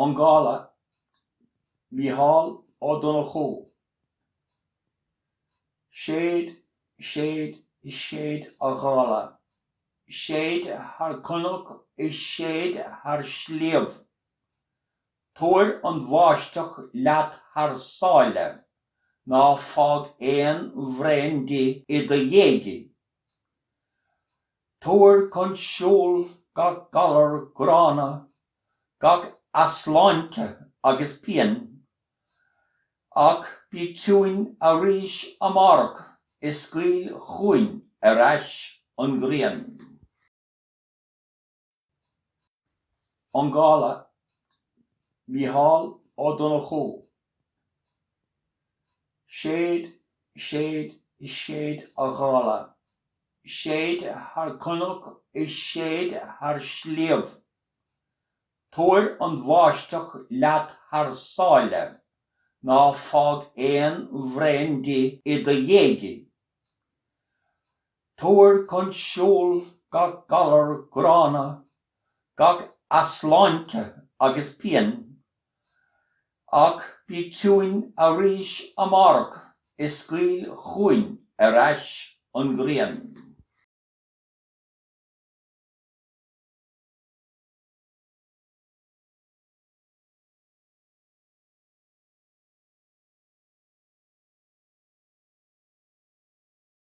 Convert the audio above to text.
An Gála, Micheál Ó Donnchú, séid, séid, séid a ghála, séid thar cnoc is séid thar sliabh, tabhair an bháisteach leat thar sáile, ná fág aon bhraon di i do dhiaidh. Tabhair chun siúil gach galar gránna, gach easláinte agus pian. Ach bí ciúin arís amárach is scaoil chugainn ar ais an ghrian. An Gála, Micheál Ó Donnchú, séid, séid, séid a ghála, séid thar cnoc is séid thar sliabh, tabhair an bháisteach leat thar sáile, ná fág aon bhraon di i do dhiaidh, Tabhair chun siúil gach galar gránna, gach easláinte agus pian. Ach bí ciúin arís amárach is scaoil chugainn ar ais an ghrian.